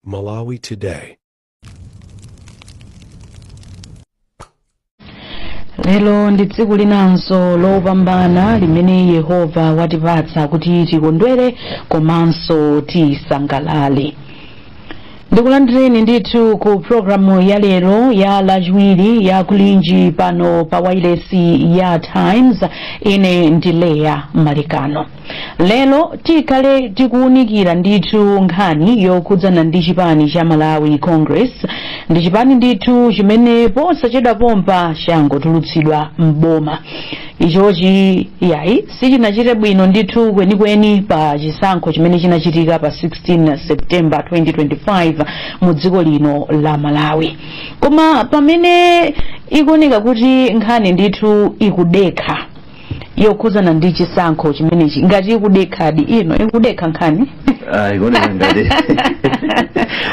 Malawi Today. lero ndi tsiku linanso lopambana limene yehova watipatsa kuti tikondwere komanso tisangalale ndikulandireni ndithu ku programu ya lero ya lachiwiri ya kulinji pano pa wailesi ya times ine ndi Leah Malekano Lero tikhale tikuwunikira ndithu nkhani yokhudzana ndi chipani cha Malawi Congress. Ndi chipani ndithu chimene posachedwa pompa changotulutsidwa m'boma. Ichochi yayi sichinachite bwino ndithu kwenikweni pa chisankho chimene chinachitika pa 16 September 2025 mu dziko lino la Malawi. Koma pamene ikuoneka kuti nkhani ndithu ikudekha yokhudzana ndi chisankho chimenechi ngati ikudekhadi ino ikudekha nkhani Ah, ikuoneka ngati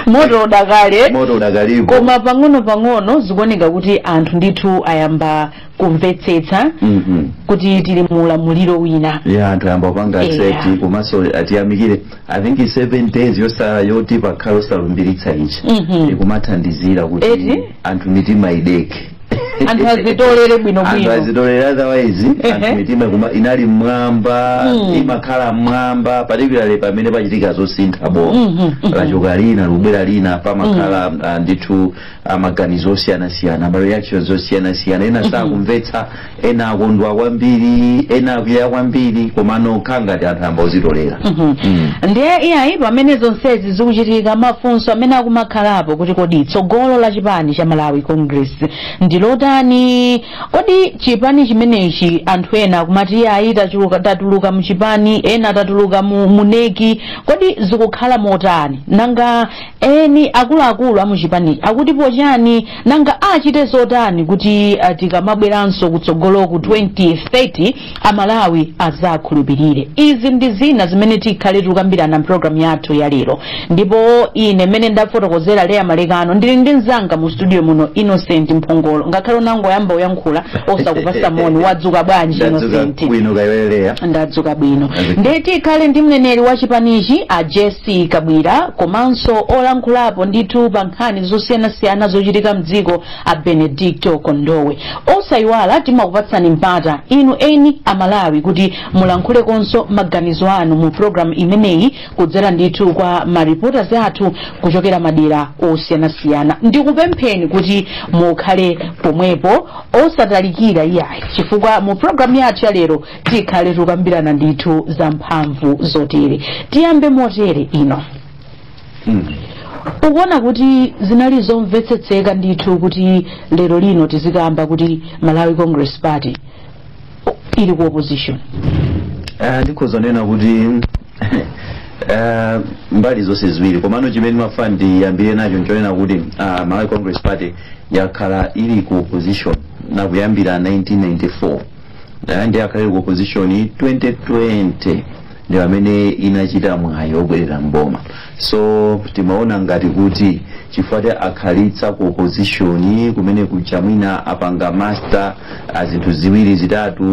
moto udakali moto udakalipo koma pang'ono pang'ono zikuoneka kuti anthu ndithu ayamba kumvetsetsa Mhm. kuti tili mu ulamuliro wina ya anthu ayamba kupanga Yeah. accept komanso tiyamikire i think 7 days yosala yoti pakhala osalumbiritsa ichi Mhm. ikumathandizira kuti Eti? anthu mitima idekhe anthu azitolere anthu bwinobwino azitolera otherwise Ehe. anthu mitima kuma inali mmwamba Mm. imakhala mmwamba particularly pamene pachitika zosintha boma Mhm, mhm. lachoka lina likubwera lina pamakhala ah, ndithu ah, maganizo osiyanasiyana ma reactions osiyanasiyana ena sakumvetsa ena akondwa kwambiri ena akwiya kwambiri komano kukhala ngati anthu ayamba kuzitolera Mm. ndiye iyayi pamene zonsezi zikuchitika mafunso amene akumakhalapo kuti kodi tsogolo la chipani cha malawi congress ndi lotani kodi chipani chimenechi anthu ena akumati iyayi tachuluka- tatuluka mu chipani ena tatuluka mu NEC kodi zikukhala motani nanga Eni akuluakulu a muchipanichi akutipo chiyani? Nanga achite zotani kuti tikamabweranso kutsogoloku 2030 a Malawi azakhulupilire? Izi ndi zina zimene tikhale tikukambirana m'programu yathu ya lero ndipo ine m'mene ndafotokozera Leah Malekano ndili ndi mzanga mu studio muno Innocent Mphongolo. Ngakhale ndinangoyamba kuyankhula osakupasa moni, wadzuka bwanji Ndadzuka Innocent? bwino kaya iwe Leah. Ndadzuka bwino. Ndadzuka. Ndiye tikhale ndi mneneri wa chipanichi a Jess ie Kabwila komanso olankhulapo ndithu pa nkhani zosiyanasiyana zochitika mdziko a Benedicto Kondowe. Osayiwala timakupatsani mpata inu eni a Malawi kuti mulankhulekonso maganizo anu mu program imeneyi kudzera ndithu kwa ma reporters athu kuchokera madera osiyanasiyana. Ndikupempheni kuti mukhale pomwepo osatalikira iyayi chifukwa mu program yathu ya lero tikhale tikukambirana ndithu za mphamvu zotere tiyambe motere Inno ukuona kuti zinali zomvetsetseka ndithu kuti lero lino tizikamba kuti malawi congress party ili ku opposition Eh, ndikhoza nena kuti eh, mbali zonse ziwiri komano chimene ndimafuna ndiyambire nacho nchonena kuti ah, malawi congress party yakhala ili ku opposition nakuyambira 1994 dala ndi yakhala ku opposition 2020 ndi pamene inachita mwayi obwerera mboma so timaona ngati kuti chifukwa ti akhalitsa ku opposition kumene kuja mwina apanga master zinthu ziwiri zitatu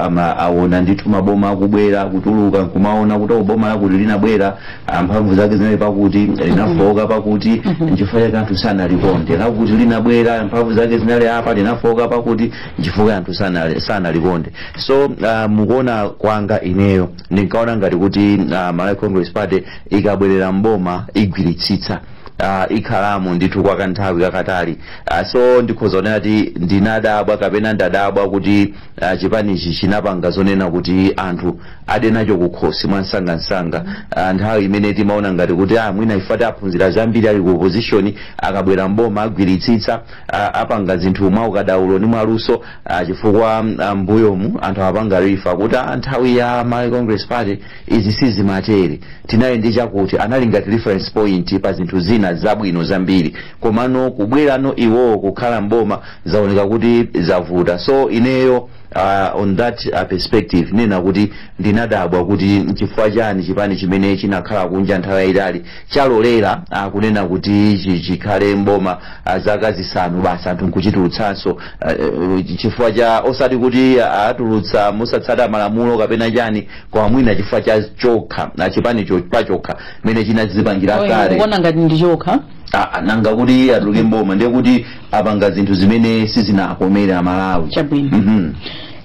ama aona ndithu maboma akubwera kutuluka kumaona kuti boma lakuti linabwera mphamvu zake zinali pakuti linafooka pakuti nchifukwa chake anthu sanalikonde lakuti linabwera mphamvu zake zinali apa linafooka pakuti chifukwa anthu sanali- sanalikonde so uh, mukuona kwanga ineyo ndinkaona ngati kuti uh, malawi congress party ikabwerera mboma igwiritsitsa uh, ikhalamo ndithu kwa kanthawi kakatali uh, so ndikhoza kunena kuti ndinadabwa kapena ndadabwa kuti uh, chipanichi chinapanga zonena kuti anthu ade nacho kukhosi mwansangansanga uh, nthawi imene timaona ngati kuti ah, mwina ife tati aphunzira zambiri ali ku opposition akabwera mboma agwiritsitsa a- apanga zinthu mwa ukadaulo ndi mwa luso a, chifukwa a, mbuyomu anthu amapanga refer kuti a, nthawi ya Malawi Congress Party izi sizimatere tinali ndi chakuti anali ngati reference point pa zinthu zina zabwino zambiri komano kubwerano iwowo kukhala mboma zaoneka kuti zavuta so ineyo uh, on that uh, perspective nena kuti ndinadabwa kuti nchifukwa chani chipani chimene chinakhala kunja nthawi yayitali chalolera uh, kunena kuti chi- chikhale mboma a zaka zisanu basi anthu nkuchitulutsanso uh, chifukwa cha osati kuti atulutsa mosatsata malamulo kapena chani koma mwina chifukwa cha chokha na chipani cho- pachokha mmene chinadzipangira kale kuona ngati ndi chokha Ah, ah, nanga kuti atuluke mboma ndiye kuti apanga zinthu zimene sizinakomere amalawi Chabwino. Mhm.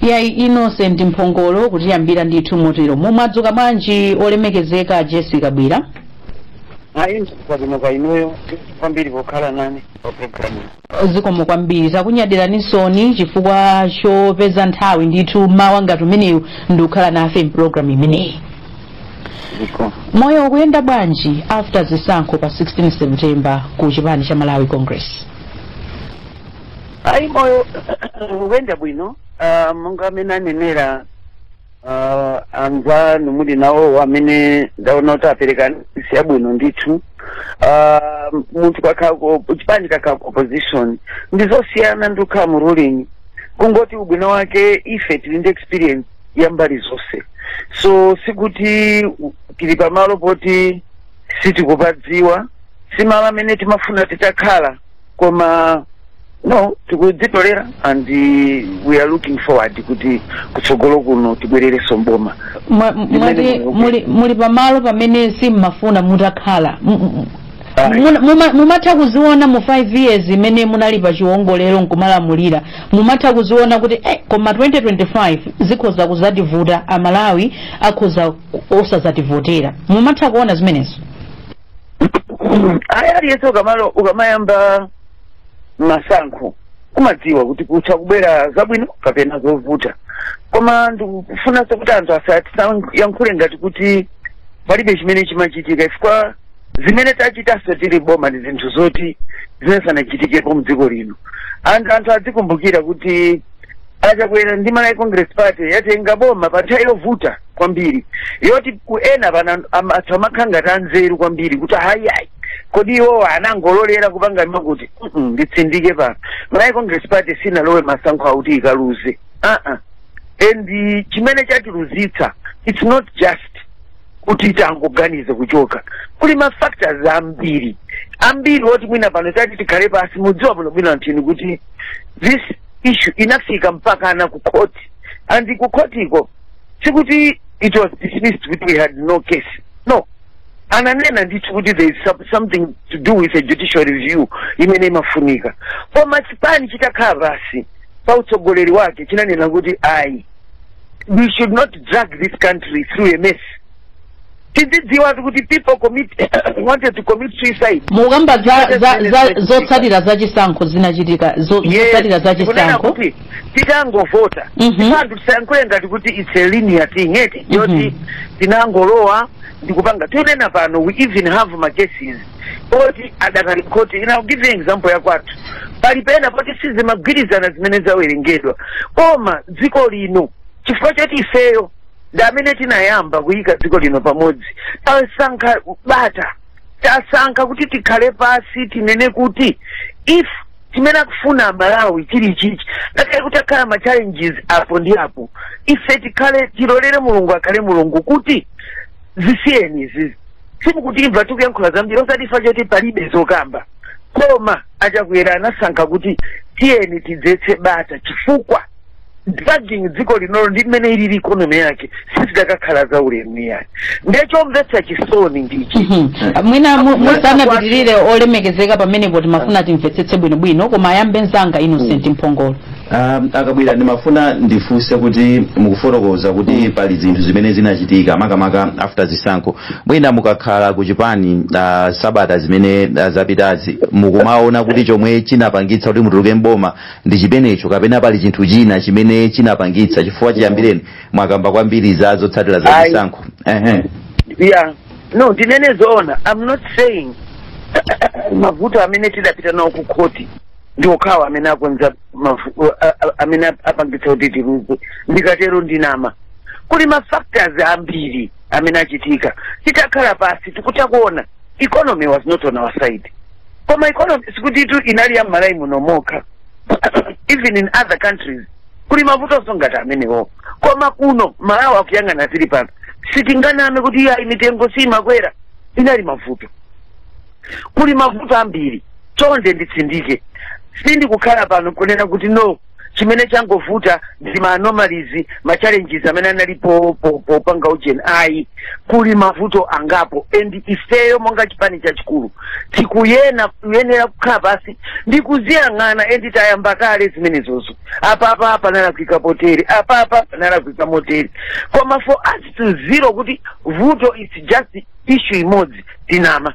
yayi innocent mphongolo kutiyambira ndithu motero mumwadzuka bwanji olemekezeka jessie kabwila ayi kwabwino kaya inuyo kwambiri pokhala nane pa programu zikomo kwambiri takunyadiranisoni chifukwa chopeza nthawi ndithu mmawa ngati umenewu ndikukhala nafe mpulogalamu imeneyi zikomo moyo ukuyenda bwanji after zisankho pa 16 september ku chipani cha malawi congress ayi moyo ukuyenda bwino ah, monga mmene anenera uh, anzanu muli nawo amene ndaona kuti apereka nsiya bwino ndithu uh, munthu kukhala ku chipani kukhala ku opposition ndi zosiyana ndi kukhala mu ruling kungoti ubwino wake ife tili ndi experience ya mbali zonse so sikuti tili pamalo poti sitikupadziwa si malo amene timafuna titakhala koma no tikudzitolera and uh, we are looking forward kuti kutsogolo kuno tibwererenso mboma Mwa- m- Ndimene mwati ndikukumbukira. muli, muli pamalo pamene simmafuna mutakhala M- m- Ayi. muna- muma- mumatha kuziona mu 5 years imene munali pa chiwongolero nkumalamulira mumatha kuziona kuti eh, koma 2025 zikhoza kuzativuta aMalawi akhoza ku- osazativotera mumatha kuona zimenezo ayi aliyense ukamalo ukamayamba masankho kumadziwa kuti kutha kubwera zabwino kapena zovuta koma ndikufunanso kuti anthu asayankhule ngati kuti palibe chimene chimachitika chifukwa zimene tachitanso tili boma ndi zinthu zoti sizinachitikepo mdziko lino anthu anthu adzikumbukira kuti a chakwera ndi malawi congress party yatenga boma pa nthawi yovuta kwambiri yoti kuti ena pano am- anthu amakhala ngati anzeru kwambiri kuti ayi ayi kodi iwowo anangololera kupanga ma khoti "Mm-mm, nditsindike pano malawi congress party sinalowe masankho akuti ikaluze aa and eh, chimene chatiluzitsa its not just kuti tangoganiza kuchoka kuli ma factors ambiri ambiri oti mwina pano tati tikhale pasi mudziwa bwino bwino anthu kuti this issue inafika mpakana ku court and ku court uko sikuti it was dismissed kuti we had no case no ananena ndithu kuti there is some- something to do with a judicial review imene imafunika koma chipani chitakhala pasi pa utsogoleri wake chinanena kuti ayi we should not drag this country through a mess tidzidziwatu kuti people commit wanted to commit suicide mukukamba za, za, za zotsatira za chisankho zinachitika zo- zotsatira za kunena chisankho kuti titangovota Mhm. anthu tisayankhule ngati kuti it's a linear thing eti yoti tinangolowa ndikupanga tinena pano we even have ma cases oti adakali khoti ina I'll give you example ya kwathu pali pena poti sizimagwirizana zimene zawerengedwa koma dziko lino chifukwa choti ifeyo ndi amene tinayamba kuyika dziko lino pamodzi tasankha bata tasankha kuti tikhale pasi tinene kuti if chimene akufuna aMalawi chili chichi ngakhale kuti pakhala ma challenges apo ndi apo ife tikhale tilolere mulungu akhale mulungu kuti zisiyeni izizi simukutimva tikuyankhula zambiri osati chifukwa choti palibe zokamba koma a chakwera anasankha kuti tiyeni tidzetse bata chifukwa dragging dziko linolo ndi mmene ilili ikonomi yake sizidakakhala za ulemu iyayi ndiye chomvetsa chisoni ndichi Mhm. mwina mu- musanapitirire olemekezeka pamenepo timafuna timvetsetse bwinobwino koma ayambe mzanga innocent mphongolo Um, akabwira ndimafuna ndifunse kuti mukufotokoza kuti pali zinthu zimene zinachitika makamaka after zisankho mwina mukakhala ku chipani uh, sabata zimene uh, zapitazi mukumaona kuti chomwe chinapangitsa kuti mutuluke mboma ndi chimenecho kapena pali chinthu china chimene chinapangitsa chifukwa chiyambireni mwakamba kwambiri za zotsatira za Ayi. chisankho Ehe. yeah no ndinene zoona i'm not saying mavuto amene tidapita nawo ku khoti ndi okhawo amene akonza mavu- a- a- amene ap- apangitsa kuti tiluze ndikatero ndinama kuli ma factors ambiri amene achitika titakhala pansi tikutakuona economy was not on our side koma economy sikuti itu inali ya mmalawi muno mokha even in other countries kuli mavutonso ngati amenewo koma kuno malawi akuyang'ana tili pano sitinganame kuti iyayi mitengo siyimakwera inali mavuto kuli mavuto ambiri chonde nditsindike sindikukhala pano kunena kuti no chimene changovuta ndi ma anomalies ma challenges amene analipo po- popanga ujeni ayi kuli mavuto angapo and ifeyo monga chipani chachikulu tikuyena kuyenera kukhala pansi ndi kuziyang'ana and tayamba kale zimenezozo apapa panalakwika potere apapa panalakwika motere koma for us to zero kuti vuto is just issue imodzi tinama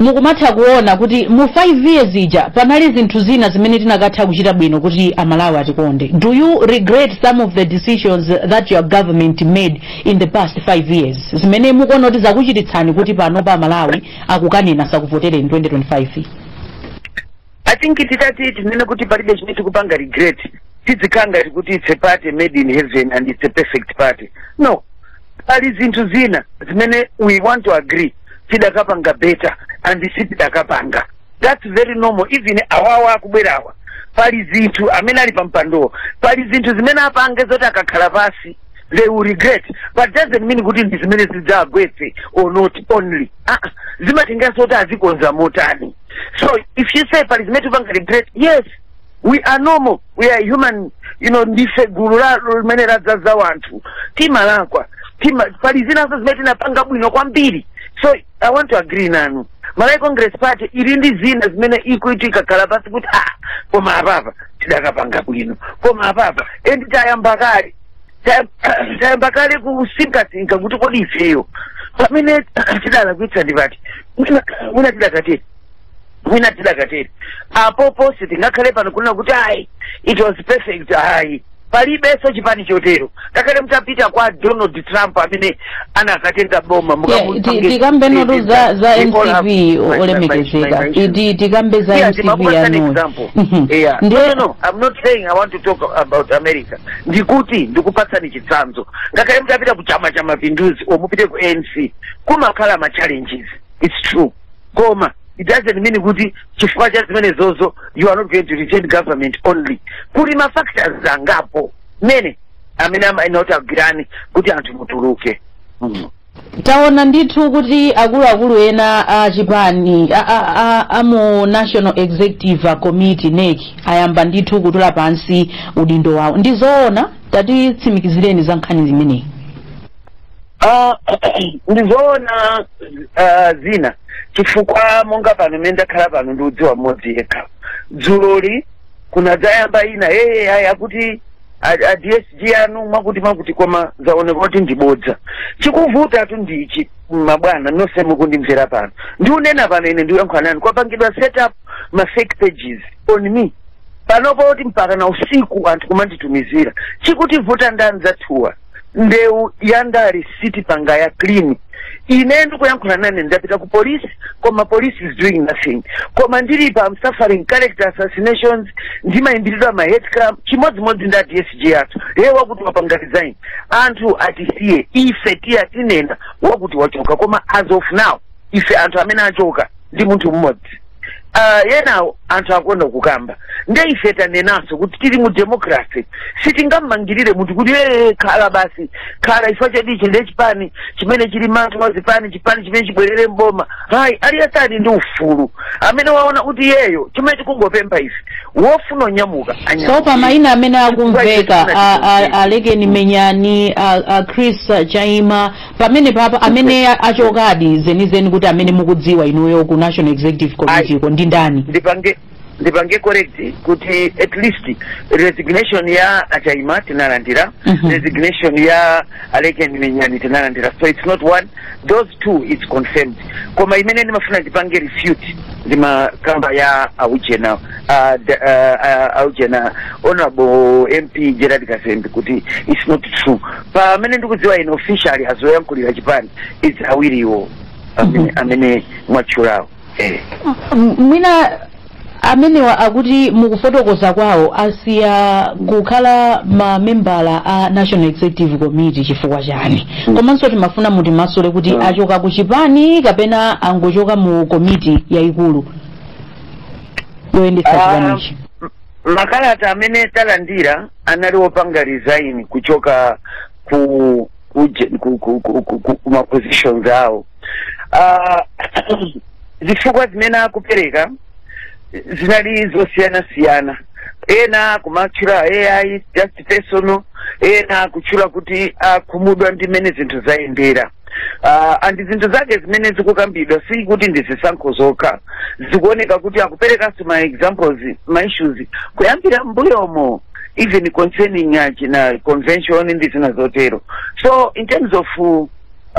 mukumatha kuona kuti mu 5 years ija panali zinthu zina zimene tinakatha kuchita bwino kuti amalawi atikonde do you regret some of the decisions that your government made in the past 5 years zimene mukuona kuti zakuchititsani kuti panopa amalawi akukaneni sakuvotere in 2025 i think titati tinene kuti palibe chimene tikupanga regret tidzikhala ngati kuti it's a party made in heaven and it's a perfect party no pali zinthu zina zimene we want to agree tidakapanga better and sitidakapanga that's very normal even awawa akubwerawa pali zinthu amene ali pa mpandowo pali zinthu zimene apange zoti akakhala pansi they will regret but doesn't mean kuti ndi zimene zidzagwetse or not only ah, zimatengeranso kuti azikonza motani so if you say pali zimene tipanga regret yes we are normal we are human you know ndife gulu la limene ladzaza wanthu timalakwa tima pali zinanso zimene tinapanga bwino kwambiri so i want to agree nanu malawi congress party ili ndi zina zimene ikuti ikakhala pansi kuti ah koma apapa tidakapanga bwino koma apapa and tayamba kale Ta- tayamba kale kusinkasinka kuti kodi ifeyo pamene tidalakwitsa ndi pati mwina mwina tidakatere mwina tidakatere apopo sitingakhale pano kunena kuti ayi it was perfect ayi palibenso chipani chotero ngakhale mutapita kwa donald trump amene anakatenga boma tikambe ndithu za za mcp olemekezeka Ti- tikambe za Yeah, mcp ndimapereka an yanuyo example. Mhm. Yeah. Ndiye- No, no, no. I'm not saying I want to talk about America. Ndikuti ndikupatsani chitsanzo. Ngakhale mtapita ku chama cha mapinduzi or mupite ku ANC, kumakhala ma challenges. It's true. Koma it doesn't mean kuti chifukwa cha zimenezozo you are not going to retain government only. Kuli ma factors angapo. Mene amene amayenera kuti agwirane kuti anthu mutuluke Mhm. taona ndithu kuti akuluakulu ena a chipani a, a, a, a mu national executive committee nec ayamba ndithu kutula pansi udindo wawo ndi zoona tatitsimikizireni za nkhani imeneyi Ah, ndizoona ah, zina chifukwa monga pano mmene ndakhala pano ndiudziwa mmodzi yekha dzuloli kunadzayamba ina yeye ayi akuti a- a dsg anu mwakuti mwakuti koma zaoneka kuti ndibodza chikuvutatu ndi ichi mabwana nonse mukundimvera pano ndiunena pano ine ndiuyankhula nanu kwapangidwa set up ma fake pages on me panopa kuti mpaka na usiku anthu kumanditumizira chikutivuta ndani zathuwa ndewu ya ndale sitipanga ya clean ine ndikuyankhula nanu ndapita ku police koma police is doing nothing koma ndili pa I'm suffering character assassinations ndimayimbiridwa ma hate crime chimodzimodzi ndi a dsg athu ye wakuti wapanga resign anthu atisiye ife tiya tinena wakuti wachoka koma as of now ife anthu amene achoka ndi munthu mmodzi uh, yenawo anthu akonda kukamba nde ife tanenanso kuti tili mu democracy sitingamangirire munthu kuti ee khala basi khala chifukwa cha ichi nde chipani chimene chili manthu wa zipani chipani chimene chibwerere mboma hayi aliyense ali ndi ufulu amene waona kuti yeyo chimene tikungopempha ife wofuna kunyamuka anyamuke. so pa mayina amene akumveka a- a- alekeni menyani a- a chris chaima pamenepapa amene a- achokadi zenizeni kuti amene mukudziwa inuyo ku national executive committee ko ndi ndani ndipange ndipange correct kuti at least resignation ya achaima tinalandira Mhm. resignation ya alekeni menyani tinalandira so it's not one those two is confirmed koma imene ndimafuna ndipange refute ndimakamba ya aujena uh, the, uh, uh, aujena honorable mp gerald kazembe kuti it's not true pamene ndikudziwa ine officially a zoyankhulira chipani it's awiriwo amene amene mwatchulawo eh. M- mwina amenewa akuti mukufotokoza kwawo asiya kukhala mamembala a national executive committee chifukwa chani komanso timafuna mutimasule kuti Mm. achoka ku chipani kapena angochoka mu komiti yayikulu yoyendetsa Ah, chipanichi makalata amene talandira anali wopanga resign kuchoka ku ku ku ku ku, ku, ku, ku ma positions awo Ah, zifukwa zimene akupereka zinali zosiyana siyana ena kumatchula ayi just personal ena akutchula kuti akhumudwa ndi mmene zinthu zayendera Uh, ndi zinthu zake zimene zikukambidwa si kuti ndi zisankho zokha zikuoneka kuti akuperekanso ma examples ma issues kuyambira mbuyomo even concerning uh, ya china convention ndi zina zotero so in terms of uh,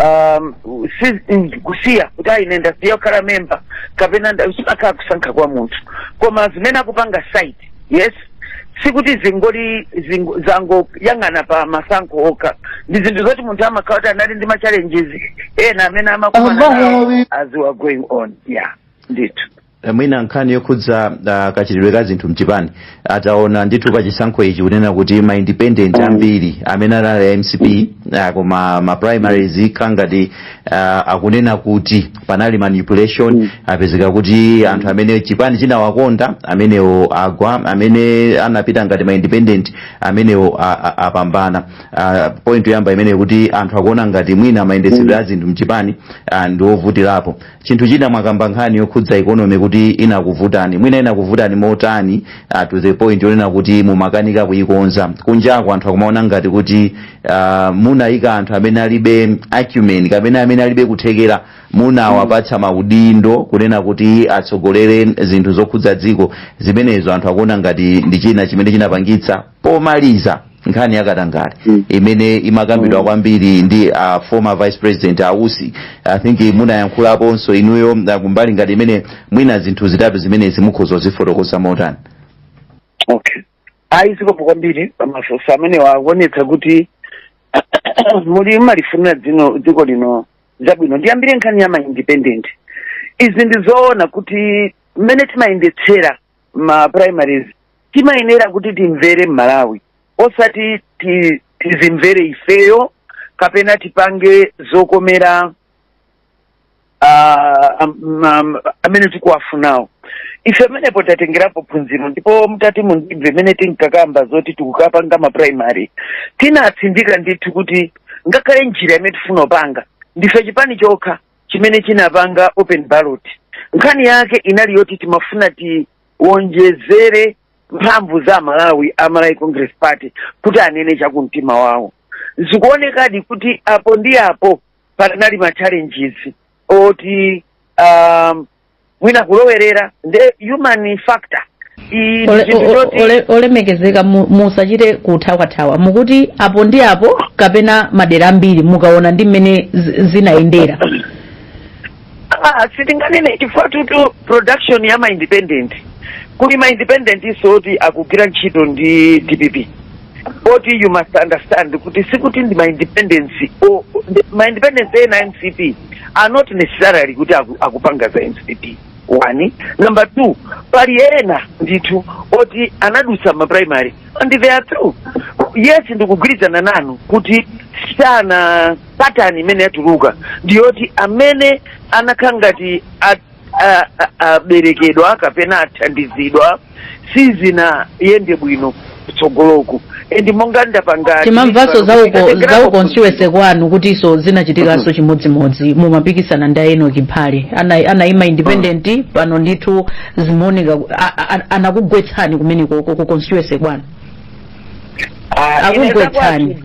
um, si- mm, kusiya kuti ayi ine ndasiya kukhala memba kapena nda- zimakhala kusankha kwa munthu koma zimene akupanga cite yes sikuti zingoli zingo, zangoyang'ana pa masankho okha ndi zinthu zoti munthu amakhala kuti anali ndi machallenges ena amene amakumana nawo Amalawi. as we are going on yeah ndithu Eh, mwina nkhani yokhudza ah, kachitidwe ka zinthu mchipani ataona ndithu pa chisankho ichi kunena kuti ma independent ambiri amene ali a mcp ah, koma ma primaries kangati ah, akunena kuti panali manipulation Mm. apezeka kuti anthu amene chipani chinawakonda amenewo agwa amene anapita ngati ma independent amenewo a- a- apambana Ah, point yoyamba imene kuti anthu akuona ngati mwina mayendetsedwe a zinthu mchipani ah, ndi ovutirapo chinthu china mwakamba nkhani yokhudza economy kuti inakuvutani mwina inakuvutani motani ah, to the point yonena kuti mumakanika kuyikonza kunjako anthu akumaona ngati kuti uh, munayika anthu amene alibe acumen kapena amene alibe kuthekera munawapatsa maudindo kunena kuti atsogolere zinthu zokhudza dziko zimenezo anthu akuona ngati ndi china chimene chinapangitsa pomaliza nkhani yakatangale Mm. imene imakambidwa kwambiri ndi uh, former vice president a Usi i think munayankhulaponso inuyo uh, kumbali ngati imene mwina zinthu zitatu zimenezi mukhoza kuzifotokoza motani okay ayi zikomo kwambiri pamafunso amene waonetsa kuti muli mumalifunira dzino dziko lino zabwino ndiyambire nkhani ya maindependent izi ndi zoona kuti mmene timayendetsera ma primaries timayenera kuti timvere mmalawi osati ti- tizimvere ifeyo kapena tipange zokomera ah, amene tikuwafunawo ife pamenepo tatengerapo phunziro ndipo mutati mundimve mmene tinkakamba zoti tikukapanga maprimary tinatsindika ndithu kuti ngakhale njira imene tifuna kupanga ndife chipani chokha chimene chinapanga open ballot nkhani yake inali yoti timafuna tiwonjezere mphamvu za amalawi a malawi congress party kuti anene chakumtima wawo zikuonekadi kuti apo ndi apo panali ma challenges oti um, mwina kulowerera the human factor olemekezeka musachite kuthawathawa mukuti apo ndi apo kapena madera ambiri mukaona ndi mmene zinayendera Ah, sitinganene chifukwa tutu production ya ma independent kuli ma independent nso oti akugwira ntchito ndi dpp but you must understand kuti sikuti ndi maindependent maindependent ena mcp are not necessarily kuti akupanga za mcp one number two pali ena ndithu oti anadutsa maprimary and they are through yes ndikugwirizana nanu kuti sana pattern imene yatuluka ndiyoti amene anakhala ngati at- a- a- aberekedwa kapena athandizidwa sizinayende bwino kutsogoloku and monga ndapanga timamvanso za ku constituency kwanu kutinso zinachitikanso chimodzimodzi mumapikisana ndi a enock phale anayima independent pano ndithu zimaoneka anakugwetsani kumene ku constituency kwanu akugwetsani.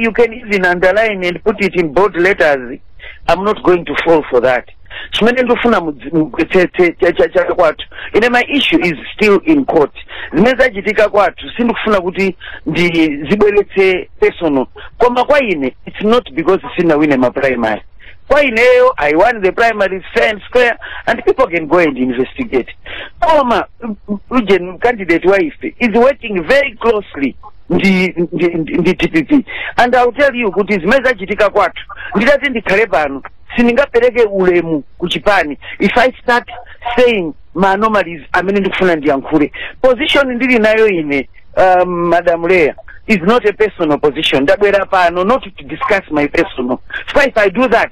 you can even underline and put it in bold letters i'm not going to fall for that chimene ndifuna mudzi- mugwetsetse cha- cha- cha kwathu ine my issue is still in court zimene zachitika kwathu sindikufuna kuti ndizibweretse personal koma kwa ine it's not because sindinawine ma primary kwa ineyo i won the primary fair and square and people can go and investigate koma ujeni candidate wa ife is working very closely ndi dpp and I'll tell you kuti zimene zachitika kwathu nditati ndikhale pano sindingapereke ulemu ku chipani if i start saying ma anomalies amene ndikufuna ndiyankhule position ndili nayo ine um, madam leah is not a personal position ndabwera pano not to discuss my personal so if i do that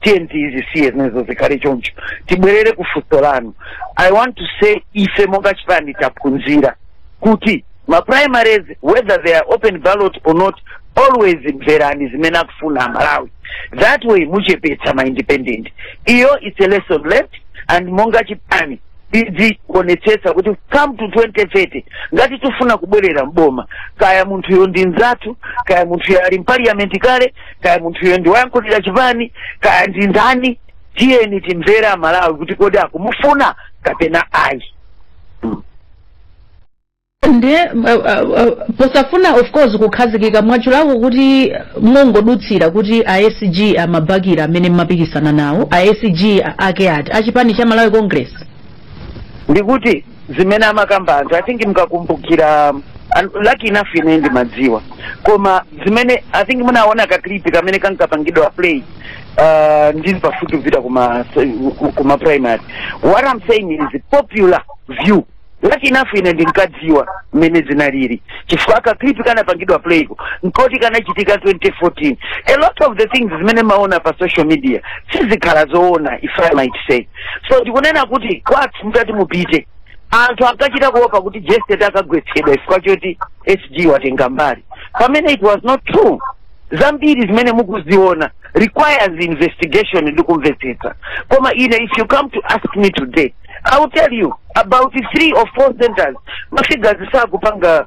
tiyeni tizisiye zinazo zikhale choncho tibwerere ku funso lanu i want to say ife monga chipani taphunzira kuti ma primaries whether they are open ballot or not always mverani zimene akufuna amalawi that way muchepetsa ma independent iyo it's a lesson learned and monga chipani tidzionetsetsa kuti come to 2030 ngati tifuna kubwerera mboma kaya munthuyo ndi mzathu kaya munthuyo ali mpaliyamenti kale kaya munthuyo ndi woyankhulira chipani kaya ndi ndani tiyeni timvere amalawi kuti kodi akumufuna kapena ayi nde uh, uh, uh, posafuna of course kukhazikika mwachulaku kuti mongodutsira kuti a sg amabakira amene mmapikisana nawo a sg ake ati achipani cha malawi congress ndikuti zimene amakamba anthu i think mkakumbukira an- lucky enough ine ndimadziwa koma zimene i think munaona ka clip kamene kankapangidwa play uh, ndili pafupi kupita kuma, kuma primary what i'm saying is popular view lucky enough ine ndinkadziwa mmene zinalili chifukwa ka clip kanapangidwa playko nkoti kanachitika 2014 a lot of the things zimene maona pa social media sizikhala zoona if i might say so ndikunena kuti kwathu mutati mupite anthu akachita kuopa kuti jeseti akagwetsedwa chifukwa choti sg watenga mbali pamene it was not true zambiri zimene mukuziona requires investigation ndi kumvetsetsa koma ine if you come to ask me today i will tell you about three or four centers mafigures sakupanga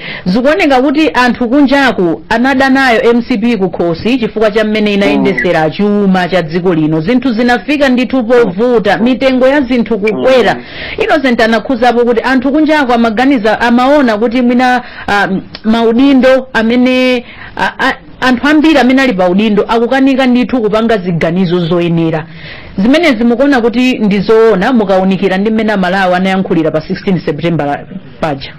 Zikuoneka kuti anthu kunjaku anada nayo mcp kukhosi chifukwa cha mmene inayendesera chuma cha dziko lino zinthu zinafika ndithu povuta mitengo ya zinthu kukwera innocent anakhuzapo kuti anthu kunjaku amaganiza amaona kuti mwina ah, m- maudindo amene ah, ah, anthu ambiri amene ali pa udindo akukanika ndithu kupanga ziganizo zoyenera zimenezi mukuona kuti ndi zoona mukaunikira ndi mmene amalawi anayankhulira pa 16 september paja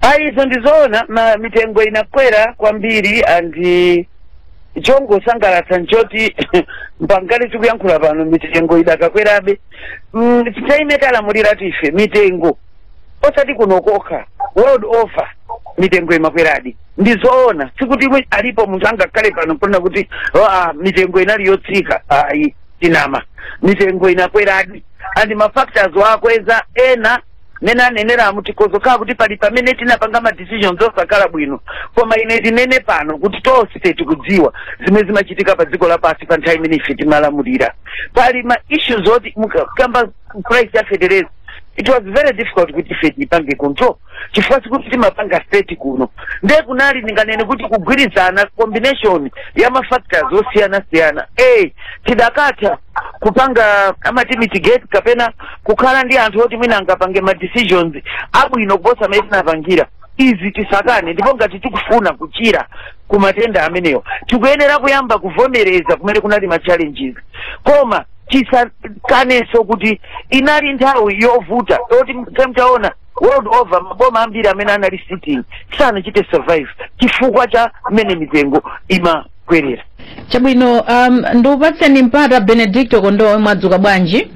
ayi izo ndizoona ma mitengo inakwera kwambiri andi chongosangalatsa nchoti mpangale tikuyankhula pano mitengo idakakwerabe mm, time timalamulira ife mitengo osati kuno kokha world over mitengo imakweradi ndizoona sikuti mwe- alipo munthu angakhale pano ponena kuti "Ah, mitengo inali yotsika ayi tinama mitengo inakweradi and mafactors okweza ena mmene aneneramo tikhoza kukhala kuti pali pamene tinapanga ma decisions osakhala bwino koma ine ndinene pano kuti tonse tikudziwa zimene zimachitika pa dziko lapansi pa nthawi imene ife timalamulira pali ma issues oti mukakamba price ya feteleza it was very difficult kuti ife tipange control chifukwa sikuti timapanga state kuno nde kunali ndinganene kuti kugwirizana combination ya mafactors osiyana siyana a tidakatha kupanga amati mitigate kapena kukhala ndi anthu oti mwina angapange ma decisions abwino kuposa amene tinapangira izi tisakane ndipo ngati tikufuna kuchira ku matenda amenewa tikuyenera kuyamba kuvomereza kumene kunali ma challenges koma tisakanenso kuti inali nthawi yovuta yoti mutaona world over maboma ambiri amene anali sitting sanachite survive chifukwa cha mmene mitengo ima kwerera chabwino um, ndikupatseni mpata benedicto kondowe mwadzuka bwanji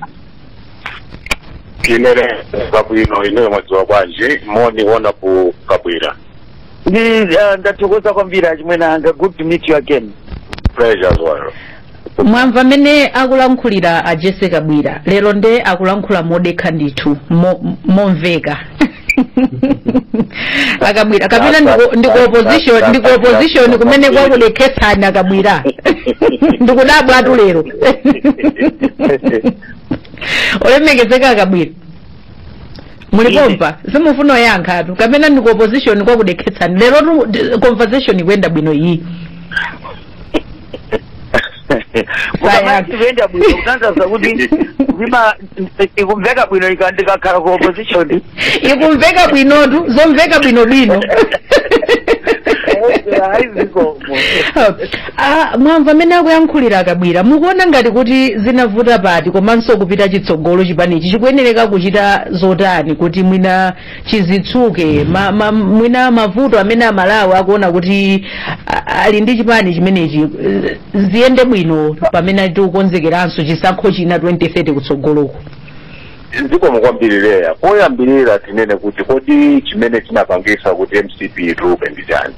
ine ndili bwino ineyo mwadzuka bwanji moni Honourable Kabwila ndi ah, ndathokoza kwambiri achimwene anga good to meet you again pleasure as well mwamva amene akulankhulira a Jessie Kabwila lero nde akulankhula modekha ndithu mo- momveka a Kabwila kapena ndiku- ndiku opposition ndiku opposition kumene kwakudekhetsani a Kabwila ndikudabwatu lero olemekezeka a Kabwila muli Ine. pompano simufuna kuyankhatu kapena ndiku opposition kwakudekhetsani lerotu d- conversation ikuyenda bwino iyi Mukamati ikuyenda bwino kutanthauza kuti ndima ikumveka bwino ika- ndikakhala ku opposition ikumveka bwinotu zomveka bwinobwino Ayi zikomo. Ah, mwamva amene akuyankhulira a Kabwila mukuona ngati kuti zinavuta pati komanso kupita chitsogolo chipanichi chikuyenereka kuchita zotani kuti mwina chidzitsuke ma, ma, mwina mavuto amene amalawi akuona kuti a- ali ndi chipani chimenechi eh, ziyende bwino pamene tikukonzekeranso chisankho china 2030 kutsogoloku zikomo kwambiri Leah poyambirira tinene kuti kodi chimene chinapangisa kuti mcp ituluke ndi chani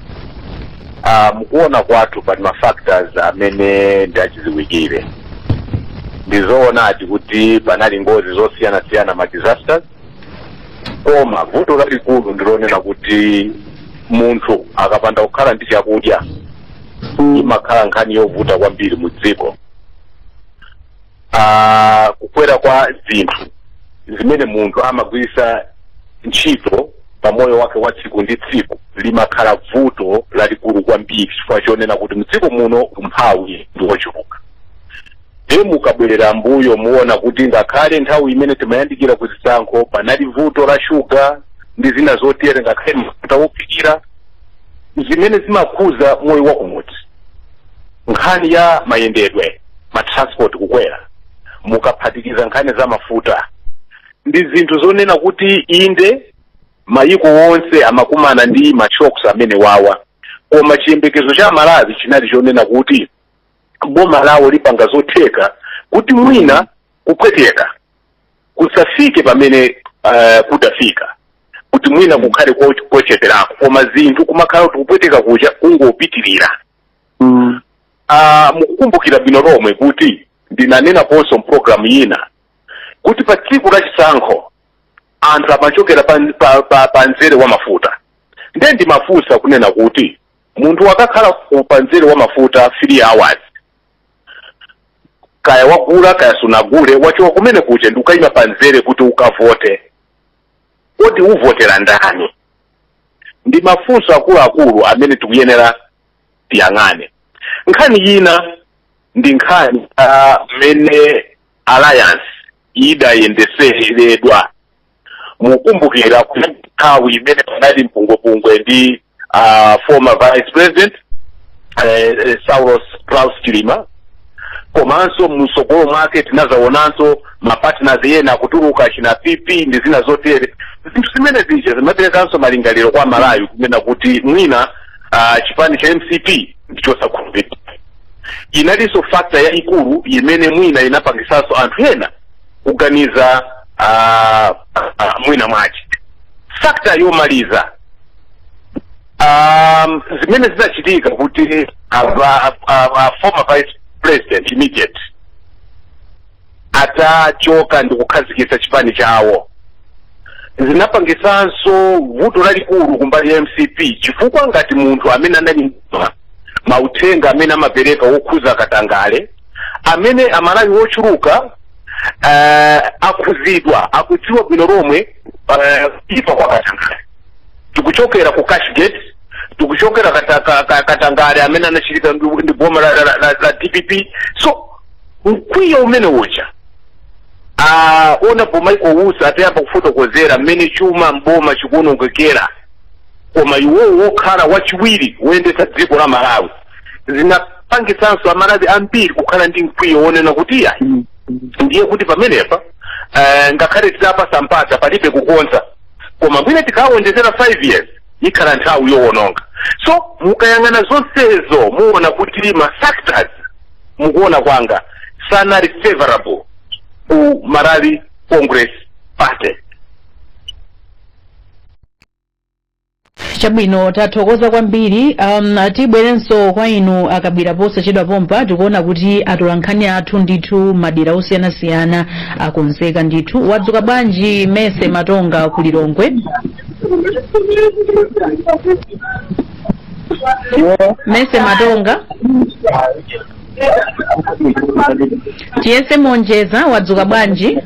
Ah, m'kuona kwathu pali ma factors amene ndi achidziwikire ndizoonadi kuti panali ngozi zosiyanasiyana ma disasters koma vuto lalikulu ndilonena kuti munthu akapanda kukhala ndi chakudya imakhala nkhani yovuta kwambiri mu dziko Ah, kukwera kwa zinthu zimene munthu amagwiritsa ntchito pa moyo wake wa tsiku ndi tsiku limakhala vuto lalikulu kwambiri chifukwa chonena kuti mdziko muno umphawi ndi wochuluka Ndiye mukabwerera m'mbuyo muona kuti ngakhale nthawi imene timayandikira ku zisankho panali vuto la shuga ndi zina zotere ngakhale mafuta wophikira zimene zimakhuza moyo wa kumudzi nkhani ya mayendedwe ma transport kukwera mukaphatikiza nkhani za mafuta ndi zinthu zonena kuti inde mayiko onse amakumana ndi mashocks amenewawa koma chiyembekezo cha amalawi chinali chonena kuti boma lawo lipanga zotheka kuti mwina kupweteka kusafike pamene uh, kudafika kuti mwina kukhale kocheperako koma zinthu kumakhala kuti kupweteka kuja kungopitirira mm. uh, mukukumbukira bwino lomwe kuti ndinanenaponso mu pulogalamu yina kuti pa tsiku la chisankho anthu amachokera pa, pa, pa, pa nzere wa mafuta ndiye ndimafunsa kunena kuti munthu wakakhala ku- pa mzere wa mafuta 3 hours kaya wagula kaya sunagule wachoka kumenekuja ndikukayima pa mzere kuti ukavote kodi uvotera ndani ndi mafunso akuluakulu amene tikuyenera tiyang'ane nkhani yina ndi nkhani ah, mmene alliance idayendeseredwa mukumbukira kuti nthawi imene panali mpungwepungwe ndi uh, former vice president eh, eh, saulos klaus chilima komanso msogolo mwake tinazaonanso mapartners ena akutuluka achina pp ndi zina zotere zinthu zimenezija zimaperekanso malingaliro kwa amalawi kunena kuti mwina uh, chipani cha mcp ndi chosakhulupirika inalinso factor yayikulu imene mwina inapangisanso anthu ena kuganiza ah, ah, mwina mwache factor yomaliza um, zimene zinachitika kuti ava- a- a- former vice president immediate atachoka ndi kukhazikitsa chipani chawo zinapangisanso vuto lalikulu kumbali ya mcp chifukwa ngati munthu amene anali mauthenga amene amapereka wokhuza katangale amene amalawi ochuluka uh, akhuzidwa akudziwa bwino lomwe uh, kuipa kwa katangale tikuchokera ku cashgate tikuchokera kata- ka- ka- katangale amene anachitika ndi ndi boma la, la, la, la, la dpp so mkwiyo umeneuja uh, aona pomwe michael usi atayamba kufotokozera mmene chuma mboma chikuonongekera koma iwowo wokhala wachiwiri woyendetsa dziko la malawi zinapangitsanso amalawi ambiri kukhala ndi mkwiyo wonena kuti iyayi ndiye kuti pamenepa eh, ngakhale titawapatsa mpata palibe kukonza koma mwina tikawonjezera 5 years ikhala nthawi yowononga so mukayang'ana zonsezo muona kuti ma factors mukuona kwanga sanali favorable ku malawi congress party chabwino tathokoza kwambiri um, tibwerenso kwa inu akabwira posachedwa pompa tikuona kuti atolankhani athu ndithu madera osiyanasiyana akonzeka ndithu wadzuka bwanji mese matonga ku lilongwe mese matonga tiyese monjeza wadzuka bwanji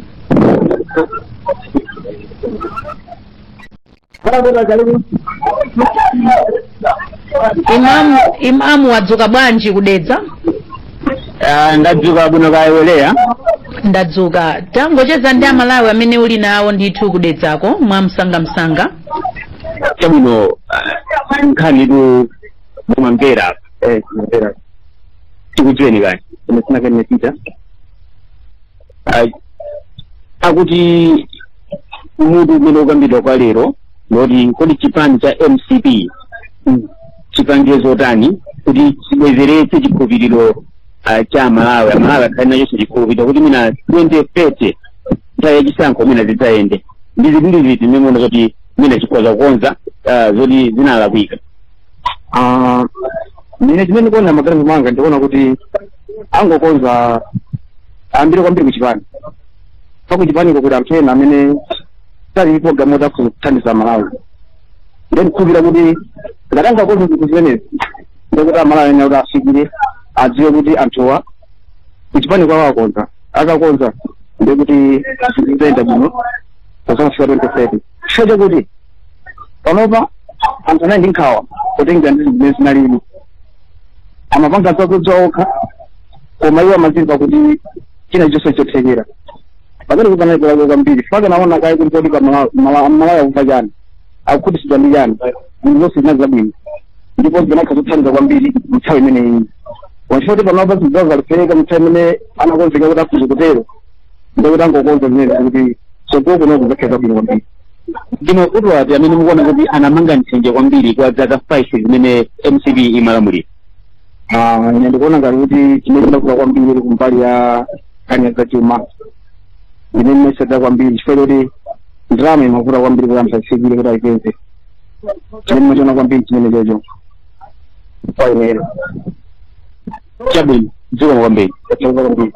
imamu imamu wadzuka bwanji ku dedza Ah, ndadzuka bwino kaya wereya ndadzuka tangocheza ndi amalawi amene uli nawo ndithu kudedzako mwa msangamsanga chabwino ah, nkhani tu mumamvera tikudziweni kani ine sinakene pita ah, akuti mutu umene ukambidwa kwa lero ndi woti kodi chipani cha mcp chipange zotani kuti chibwezeretse chikhulupiriro ah, cha amalawi amalawi akhale nachonso chikhulupiriro kuti mwina 2030 nthawi yachisankho mwina zidzayende ndi zinthu ndi ziti zimene mukuona zoti mwina chikhoza kukonza ah, zoti zinalakwika Ah, ine chimene ndikuona mmaganizo mwanga ndikuona kuti angokonza ayambire kwambiri kuchipani pa kuchipaniko kuti anthu ena amene sali programu yoti akhoza kuthandiza malawi nde ndikhulupirira kuti ngati atangokonza zinthu zimenezi ndekuti amalawi ena kuti afikire adziwe kuti anthuwa kuchipani kwawo akonza akakonza ndekuti zinthu zizayenda bwino pozafika 2030 chifukwa chakuti panopa anthu anali ndi nkhawa kutengera ndi zimene zinalili amapanga zodziwa okha koma iwo amazimva kuti china chonse chotheka pamene kupanali kulako kwambiri faka kuona kaye kuti kodi amalawi akuva chani akukhutisidwa ndi chani zinthu zonse zinali zabwino ndipo zinakakhala zothandiza kwambiri mnthawi imeneyi wachifoti panopa zinthu zawo zaliphereka mnthawi imene anakonzeka kuti afuze kutero ndikuti atangokonza zimene kuti tsogolo kuno kuzakhala zabwino kwambiri ndi mavuto ati amene mukuona kuti anamanga nthenje kwambiri kwa zaka 5 zimene mcp imalamulira Ah, ine ndikuona ngati kuti chimene chinavuta kwambiri ili kumbali ya nkhani za chuma ine mmeseda kwambiri chifukwa choti ndalama imavuta kwambiri kuti anthu afikire kuti aipeze chimene ndimachiona kwambiri chimenecho kwa ineyo chabwino zikomo kwambiri tathokoza kwambiri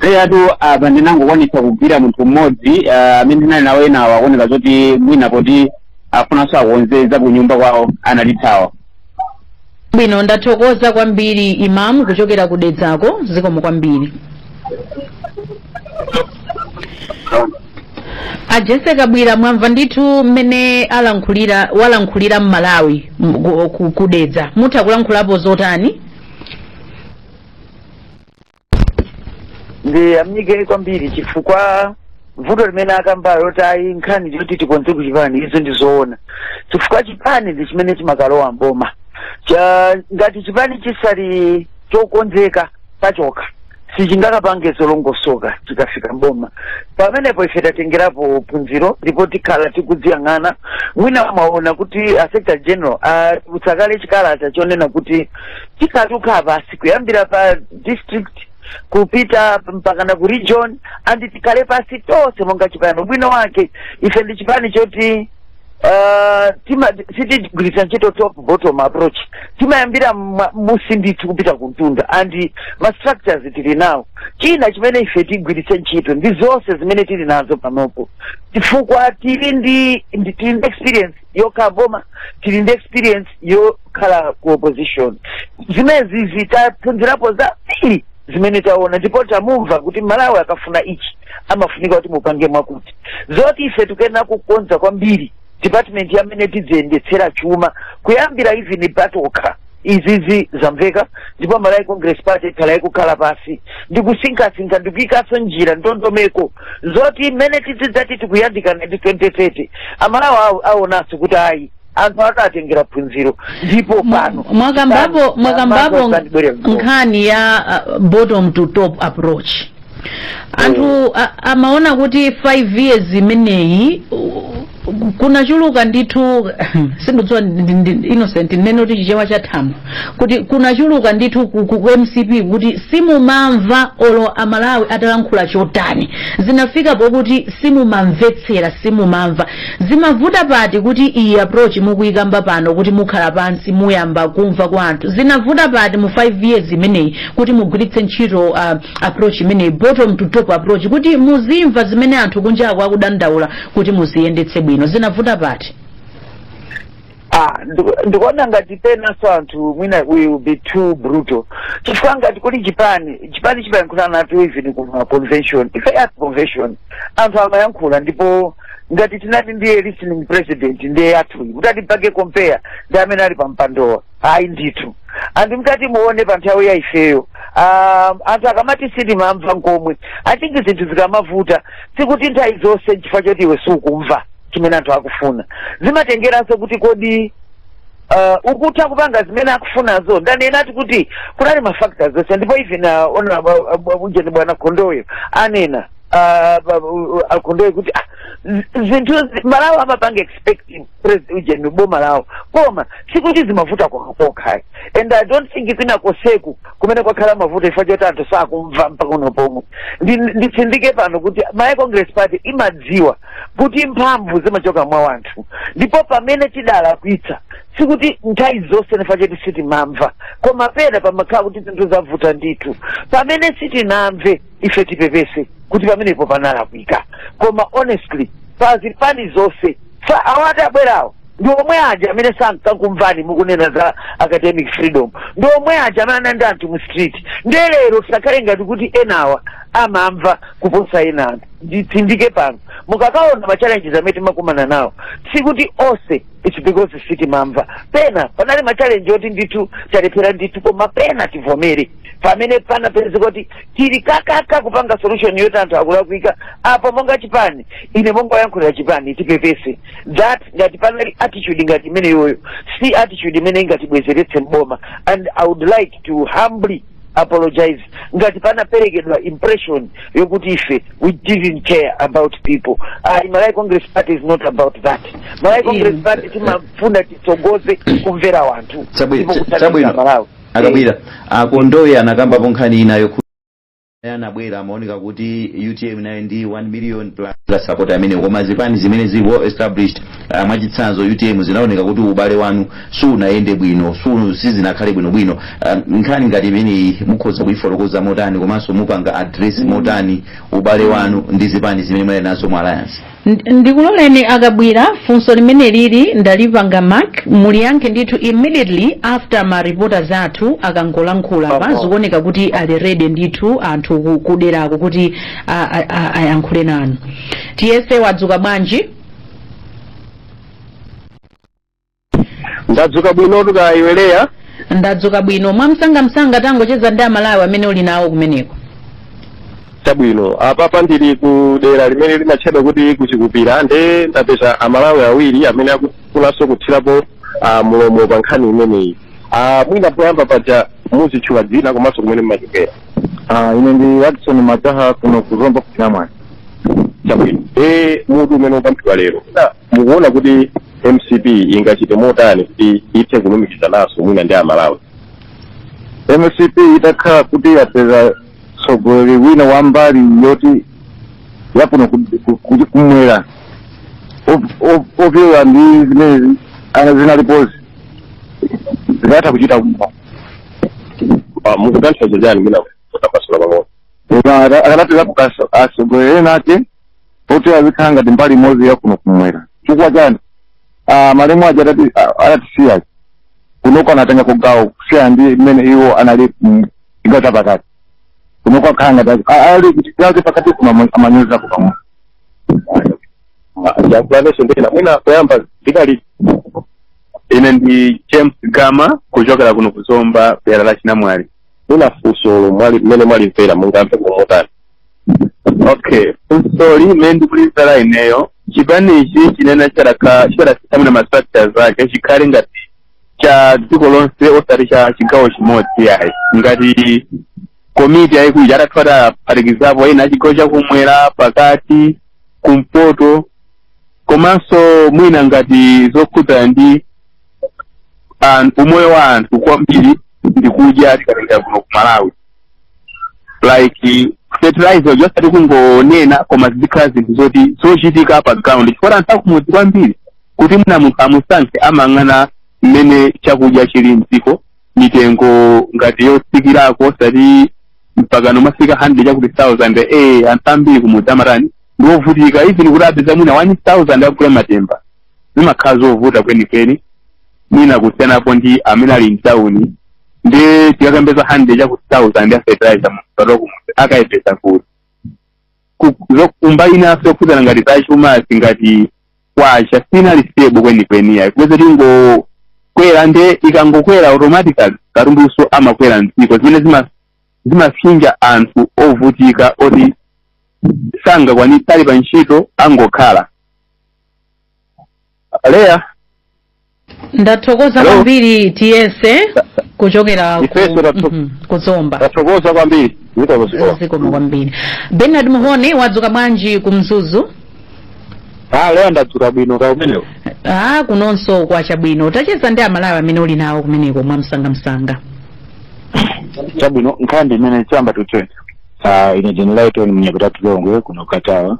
eyatu apa ndinangokwanitsa kugwira munthu mmodzi ah, amene ndinali nawo enawo zikuoneka zoti mwina poti afunanso akonze za kunyumba kwawo analithawa chabwino ndathokoza kwambiri imamu kuchokera ku dedzako zikomo kwambiri a Jessie Kabwila mwamva ndithu mmene alankhulira walankhulira mmalawi m- ku- ku- ku dedza mutha kulankhulapo zotani ndiyamike kwambiri chifukwa vuto limene akambalo loti ayi nkhani zoti tikonze kuchipani izo ndi zoona chifukwa chipani ndi chimene chimakalowa mboma Cha- ngati chipani chisali chokonzeka pachokha sichingakapange zolongosoka chikafika mboma pamenepo ife tatengerapo phunziro ndipo tikhala tikudziyang'ana mwina mwaona kuti a secretary general atulutsa kale chikalata chonena kuti tikhala tikukhala pansi kuyambira pa district kupita mpakana ku region and tikhale pansi tonse monga chipani ubwino wake ife ndi chipani choti Uh, tima sitigwiritsa ntchito top bottom approach timayambira mma- musi ndithu kupita kumtunda and ma structures tili nawo china chimene ife tigwiritse ntchito ndi zonse zimene tili nazo panopo chifukwa tili ndi ndi- tili ndi experience yokhala mboma tili ndi experience yokhala ku opposition zimenezi taphunzirapo zambiri zimene taona ndipo tamumva kuti malawi akafuna ichi amafunika kuti mupange mwakuti zoti ife tikuyenera kukonza kwambiri department ya mmene tidziyendetsera chuma kuyambira even patokha izizi zamveka ndipo malawi congress party ikhala ikukhala pansi ndikusinkhasinkha ndikuyikanso njira ndondomeko zoti mmene tidzidzati tikuyandikana ndi 2030 amalawi awo- aonanso kuti ayi anthu aja atengera phunziro ndipo pano mwakambapo mwakambapo nkhani ya uh, bottom to top approach anthu a- amaona kuti 5 years imeneyi uh, kunachuluka ndithu sindikudziwa ndi- ndi- innocent nnene kuti chichewa cha thamo kuti kunachuluka ndithu ku, ku, ku mcp kuti simumamva olo amalawi atalankhula chotani zinafika pokuti simumamvetsera simumamva Zimavuta pati kuti iyi approach mukuyikamba pano kuti mukhala pansi muyamba kumva kwa anthu zinavuta pati mu 5 years imeneyi kuti mugwiritse ntchito uh, approach imeneyi bottom to top approach kuti muzimva zimene anthu kunjako akudandaula kuti muziyendetse bwino zinavuta pati Ah, ndiku- ndikuona ngati penanso anthu mwina we will be too brutal chifukwa ngati kuli chipani chipani chimayankhula natu even kuma convention ife at convention anthu amayankhula ndipo ngati tinati ndiye listening president ndiye anthu mutati mpange compare ndi amene ali pa mpandowa ayi ndithu anthu mutati muone pa nthawi ya ifeyo um, anthu akamati sitimamva nkomwe i think zinthu zikamavuta sikuti nthawi zonse nchifukwa choti iwe sukumva chimene anthu akufuna zimatengeranso kuti kodi uh, ukutha kupanga zimene akufunazo ndanenati kuti kunali mafactors onse ndipo even uh, ona uh, uh, ujeni bwana Khondowe anena uh, ba- uh, uh, a Khondowe kuti ah, z- zinthu zi- Amalawi amapanga expect president ujeni boma lawo koma sikuti zimavuta kwakokha and i don't think kwina koseku kumene kwakhala mavuto chifukwa choti anthu sakumva mpaka uno pomwe Ndi- nditsindike pano kuti Malawi congress party imadziwa kuti mphamvu zimachoka mwa wanthu ndipo pamene tidalakwitsa sikuti nthawi zonse nchifukwa choti sitimamva koma pena pamakhala kuti zinthu zavuta ndithu pamene sitinamve ife tipepese kuti pamenepo panalakwika koma honestly pa zipani zonse fa awati abwerawo ndi omwe aja amene sankakumvani mukunena za academic freedom ndi omwe aja amene anali ndi anthu mu street ndiye lero tisakhale ngati kuti enawa amamva kuposa ena anthu nditsindike pano mukakaona ma challenges amene timakumana nawo sikuti onse it's because sitimamva pena panali ma challenge oti ndithu talephera ndithu koma pena tivomere pamene panapezeka kuti tili kakaka kupanga solution yoti anthu akulakwika apa monga chipani ine monga woyankhulira chipani tipepese that ngati panali attitude ngati imeneyoyo si attitude imene ingatibwezeretse mboma and i would like to humbly apologize ngati panaperekedwa impression yokuti ife we didn't care about people ayi malawi congress party is not about that malawi congress Inu. party timafuna titsogoze kumvera wanthu Chabwi- ndipo cha- kuthandiza chabwino. malawi a Kabwila a Khondowe anakambapo nkhani inayo kuti naye anabwera amaoneka kuti utm nayo ndi 1 million plus la support amene koma zipani zimene zili well established ah, mwachitsanzo utm zinaoneka kuti ubale wanu sunayende bwino su- sizinakhale bwinobwino Ah, nkhani ngati imeneyi mukhoza kuyifotokoza motani komanso mupanga address motani ubale wanu ndi zipani zimene munali nazo mu alliance Ndi- ndikuloleni a Kabwila funso limeneli ndalipanga mark muliyankhe ndithu immediately after ma reporters athu akangolankhula pa Papa. zikuoneka kuti ali ready ndithu anthu ku- kuderako kuti a- a- a- ayankhule nanu tiyese wadzuka bwanji ndadzuka bwinotu kaya iwe Leya ndadzuka bwino mwamsangamsanga tangochezani ndi amalawi amene uli nawo kumeneko chabwino apapa ndili ku dera limene limatchedwa kuti ku Chikupira nde ndapeza amalawi awiri amene akufunanso kuthirapo ah, mulomo pa nkhani imeneyi Ah, mwina poyamba paja muzitchula dzina komanso kumene mmachokera Ah, ine ndi Watson Mataha kuno ku Zomba ku Chinamwali chabwino e mutu umene ukukambidwa lero mukuona kuti mcp ingachite motani kuti ithe kulumikizananso mwina ndi amalawi mcp itakhala kuti yapeza mtsogoleri wina wa mbali yoti yakuno ku- ku- ku- kumwera Op- op- opyola ndi zimene ana zinalipozi zikanatha kuchita bwino Ah, mukutanthauza chani mwina kutambasula pang'ono akanapeza atsogoleri ena ake poti azikhala ngati mbali imodzi ya kuno kumwera chifukwa chani ah, malemu aja adati- ah, adatisiya kunoko anatenga chigawo kusiyana ndi mmene iwo anali mm, chigawo cha pakati kunoko akhala ngati azi- ah, ali chigawo cha pakati kuno amanyoza kupamwa yakulanenso ndena mwina kuyamba ndi mali ine ndi james gama kuchokera kuno ku Zomba dera la chinamwali mwina funso mmene mwalimvera mungayambe kumotani okay funso limene ndikulimvera ineyo chipanichi chinena chikanakhala mwina ma structures ake chikhale ngati cha dziko lonse osati cha chigawo chimodzi yayi ngati komiti yayikulu ija atati aphatikizapo ena achigawo chakumwera pakati kumpoto komanso mwina ngati zokhudzana ndi an- umoyo wa anthu kwambiri ndi kudya tikatenga kuno ku malawi like fertilizer uja osati kungonena koma zizikhala zinthu zoti zochitika pa ground chifukwa anthu akumudzi kwambiri kuti mwina munthu amusankhe amayang'ana mmene chakudya chili mdziko mitengo ngati yotsikirako osati mpakana kumafika 100 chakuti 1000 eh anthu ambiri kumudzi amatani ndiovutika even kuti apeze mwina 1000 akagule matemba zimakhala zovuta kwenikweni mwina kusiyanapo ndi amene ali mtawuni nde tikakamba za handede chakuti thousand ya fertilizer munthu wa ku mudzi akayipeza kuti Ku- zo- kumbali inanso yokhudzana ngati za chuma ngati kwacha siinali stable kwenikweni yayi kupeza kuti ingokwera nde ikangokwera automatically katundunso amakwera mdziko zimene zima- zimafinya anthu ovutika oti sangakwanitse ali pa ntchito angokhala Leya, ndathokoza Hello? kwambiri tiyese kuchokera ku- Ifeso tatho- Mhm, ku zomba tathokoza kwambiri. Zikomo zikomo. zikomo kwambiri bernard muhone wadzuka bwanji ku mzuzu Ah, Leya ndadzuka bwino kaya kumeneko. ah kunonso kwacha bwino tacheza ndi amalawi amene uli nawo kumeneko mwa msangamsanga Chabwino nkhani imene chamba tuchwe. Ah, ine jeni laitoni mnyapita tulongwe kuno katawa.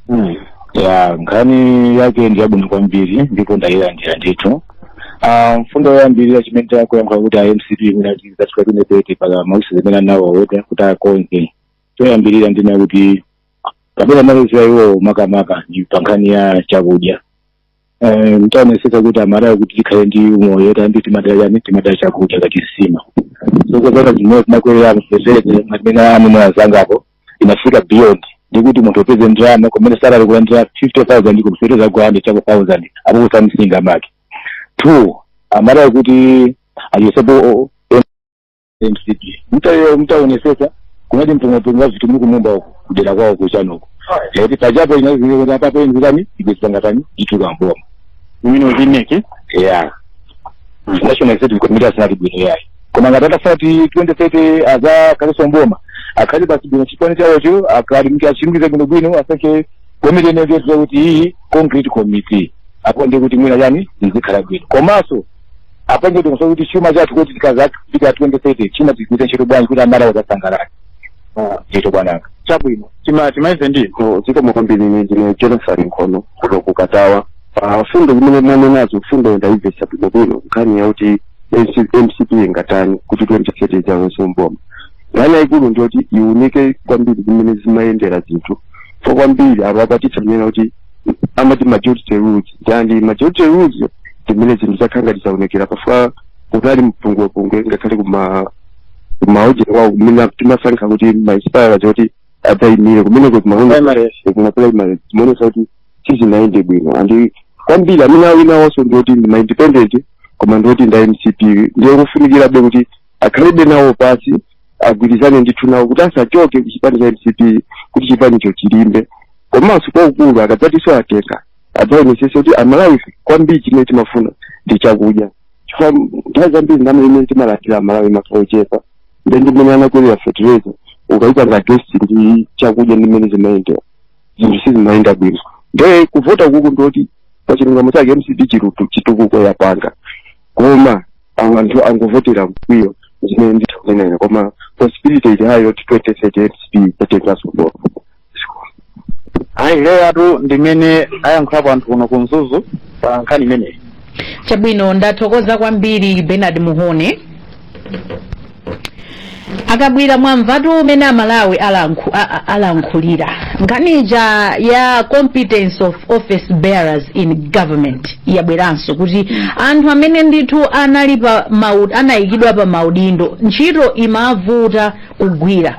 Mm. ya nkhani yake ndi yabwino kwambiri ndipo ndayilandira ndithu Ah, mfundo yoyambirira chimene chakuyankha kuti a mcp imene achitachika kunepete pa mausi zimene anawaweta kuti akonze choyambirira ndinena kuti kapena malizira iwowo makamaka ndi pa nkhani ya chakudya Eh, mtaonesesa kuti amalawi kuti tikhale ndi umoyo kwambiri timadalira chani timadalira chakudya ngati nsima zokuzana zimene zinakwelera feteleza amene amene azangapo inafika beyond ndikuti munthu upeze ndalama kumene salary kulandira 50000 koma feteleza 100 chakuti 1000 apo kusamsinga make two amalawi kuti aliyesepo mcp mtayo mtaonesesa kunali mpungwepungwe vitu muku mumba uko kudera kwao kuchanoko eti pachapo inazingeza papo inzirani ibesangatani ituka mboma imene uzineke yeah national executive committee asinati bwino yayi koma ngati atafuna kuti 2030 azakhaleso mboma akhale pasi bwino chipani chawocho akali mti achimbize bwino bwino asankhe komiti inengezo kuti iyi concrete committee apo ndi kuti mwina yani izikhala bwino komanso apange ndikuso kuti chuma chathu kuti tikazafika 2030 chuma tigwiritse ntchito bwanji kuti amalawi azasangalale ndito bwananga chabwino tima timalize ndi zikomo kwambiri ine ndine jonathan nkhono kuno ku katawa pa fundo zimene mwanenazo fundo ndayimvesa bwinobwino nkhani yakuti MC- mcp ingatani kuti 2030 idzalowenso mboma nkhani yayikulu ndiyoti iwunike kwambiri mmene zimayendera zinthu fo kwambiri apo apatitsa kunena kuti amati majority rules ndi majority rules ndi mmene zinthu zakhala ngati zaonekera chifukwa kunali mpungwepungwe ngakhale kuma kumaoje kwawo kumene timasankha kuti maaspirants oti adzayimire kumeneko Primaries. kuma primary zimaonesa kuti sizinayende bwino and kwambiri amene awinawonso ndioti ndi maindependent koma ndioti nda mcp ndiye kufunikirabe kuti akhalebe nawo pasi agwirizane ndithu nawo kuti asachoke ku chipani cha mcp kuti chipanicho chilimbe komanso kwakukulu akadzatiso atenga adzaonesese kuti amalawi kwambiri chimene timafuna ndi chakudya chifukwa nthawi zambiri ndalama imene timalandira amalawi imakhala yochepa nde ndi mmene anakwelera fertilizer ukayika nga gesi ndi chakudya ndi mmene zimayendera zinthu sizimayenda bwino nde kuvota kuku ndoti pa chilungamo chake mcp chirutu chitukuko yapanga koma awo anthu angovotera mkwiyo zimene nditha kunena ine koma possibility ili high yoti 2030 MCP itenganso bolo Leah atu ndimmene ayankhulapo anthu kuno ku mzuzu pa nkhani imeneyi chabwino ndathokoza kwambiri Bernard Mhone akabwira mwamvatu mmene amalawi alankhu, a- a- alankhulira nkhani ija ya competence of office bearers in government yabweranso kuti anthu amene ndithu anali pa mau- anayikidwa pa maudindo ntchito imavuta kugwira